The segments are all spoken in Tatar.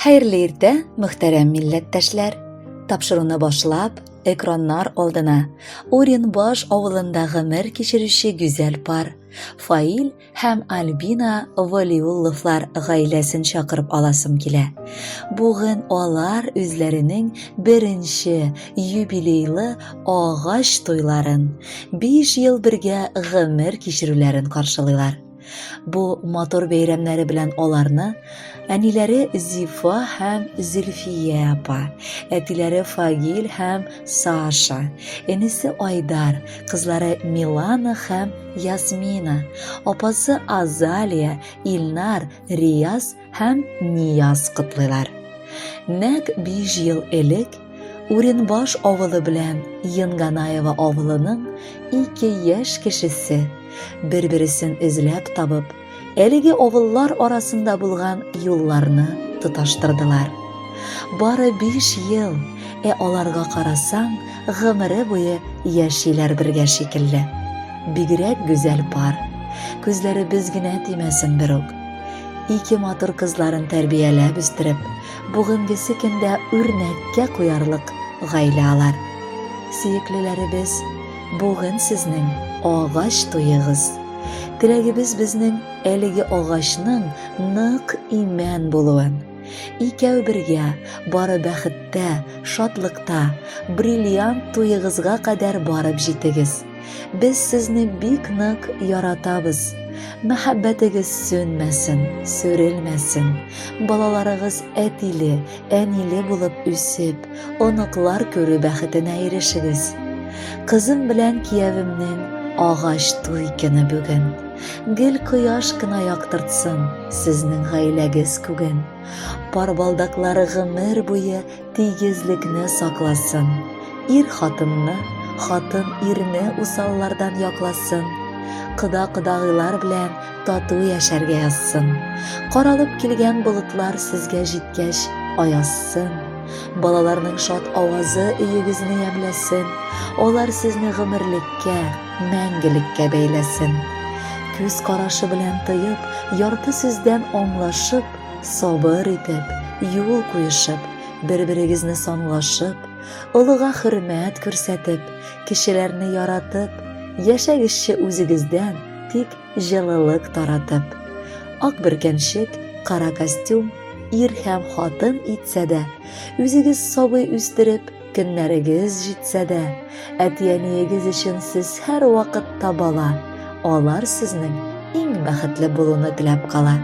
Хәерле иртә, мөхтәрәм милләттәшләр! Тапшыруны башлап, экраннар алдына Оренбаш авылында гомер кичерүче гүзәл пар Фаил һәм Альбина Валиулловлар гаиләсен чакырып аласым килә. Бүген алар үзләренең беренче юбилейлы агач туйларын, 5 ел бергә гомер кичерүләрен каршылыйлар. Бу матур бәйрәмнәре белән аларны әниләре Зифа һәм Зөлфия апа, әтиләре Фагил һәм Саша, энесе Айдар, кызлары Милана һәм Ясмина, апасы Азалия, Илнар, Рияз һәм Нияз котлыйлар. Нәк 5 ел элек Уренбаш авылы белән Енганаева авылының ике яшь кешесе бер-бересен эзләп табып, әлеге авыллар арасында булган юлларны тоташтырдылар. Бары 5 ел, ә аларга карасаң, гомере буе яшиләр бергә шикелле. Бигрәк гүзәл пар. Күзләребез генә тимәсен берүк. Ике матур кызларын тәрбияләп үстереп, бүгенгесе көндә үрнәккә куярлык гаилә алар. Сөеклеләребез, бүген сезнең агач туегыз. Теләгебез безнең әлеге агачның нык имән булуын. Икәү бергә бары бәхеттә, шатлыкта, бриллиант туегызга кадәр барып җитегез. Без сезне бик нык яратабыз. Мәхәббәтегез сүнмәсен, сүрелмәсен. Балаларыгыз әтиле, әниле булып үсеп, оныклар күрү бәхетенә ирешегез. Кызым белән киявемнең агач туй көне бүген. Гел кояш кына яктыртсын сезнең гаиләгез күген. Пар балдаклары гомер буе Тигезлекне сакласын, ир хатынны, хатын ирне усаллардан якласын, кода-кодагыйлар белән тату яшәргә язсын. Каралып килгән болытлар сезгә җиткәч, аяссын. Балаларның шат авазы өегезне ямьләсен, алар сезне гомерлеккә, мәңгелеккә бәйләсен. Күз карашы белән тоеп, ярты сүздән аңлашып, Сабыр итеп, юл куешып, бер-берегезне санлашып, олыга хөрмәт күрсәтеп, кешеләрне яратып, яшәгезче үзегездән, тик җылылык таратып. Ак бөркәнчек, кара костюм, ир һәм хатын итсә дә, үзегез сабый үстереп, Көннәрегез җитсә дә, әти-әниегез өчен сез һәр вакыт табала. Алар сезнең иң бәхетле булуны теләп кала.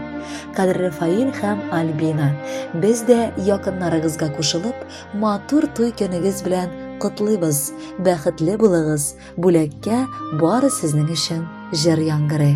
Кадерле Фаил һәм Альбина, без дә якыннарыгызга кушылып, матур туй көнегез белән котлыйбыз. Бәхетле булыгыз, бүләккә бары сезнең өчен җыр яңгырый.